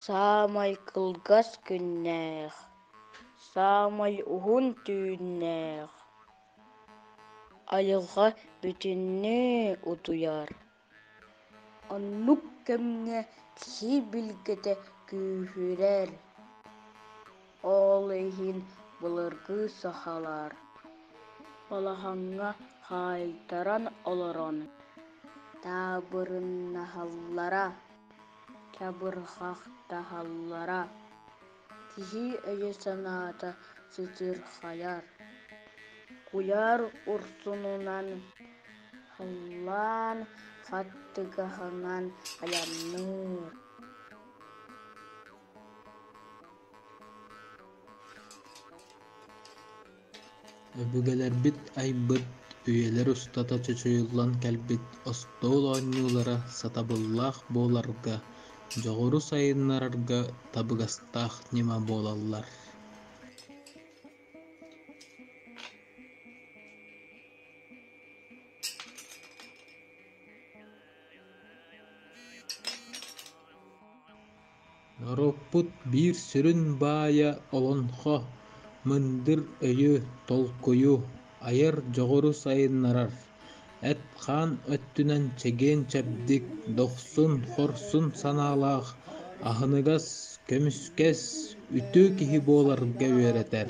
Саамай кылгас күннээх, саамай уһун түүннээх айылҕа бүтүннүү утуйар. Оннук кэмҥэ киһи билгэтэ күүһүрэр. Ол иһин былыргы сахалар балаһаҥҥа хаайтаран олорон таабырыннаһаллара, кябырҕахтаһаллара, киһи өйө-санаата сытыырхайар. Куйаар урсунунан халлаан хаттыгаһынан айанныыр. Өбүгэлэрбит айбыт, үйэлэр устата чочуйуллан кэлбит остуол оонньуулара сатабыллаах буоларга, дьоҕуру сайыннарарга табыгастаах ньыма буолаллар. Норуоппут биир сүрүн баайа олоҥхо, мындыр өйү, толкуйу, айар дьоҕуру сайыннарар. Эт-хаан өттүнэн чэгиэн-чэбдик, дохсун-хорсун санаалаах, аһыныгас, көмүскэс, үтүө киһи буоларга үөрэтэр.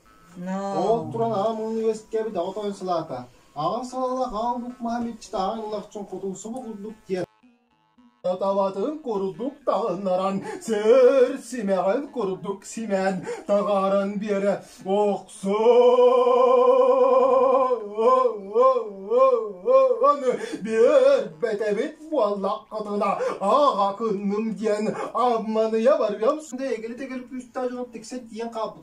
Ол туран аҕам университеткэбит оҕо тоойун салаата «Аҕа салалах аал бук Маһаммедчит ааҕын ылахчын хотуусуба курдук» диэн табатын курдук таҕыннаран сөр симэҕин курдук симэн таҕаран биэрэ охсон биэрбэтэбит буоллаххытына аҕа кынным диэн амманыйа барыам сынды эгили тегель күүстээх дьон тиксэ диэн хааппыт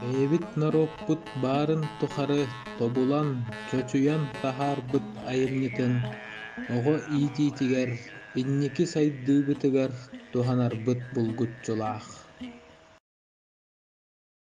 бэйэбит норуоппут баарын тухары тобулан чочуйан таһаарбыт айымньытын оҕо иитиитигэр инники сайдыыбытыгар туһанарбыт булгуччулаах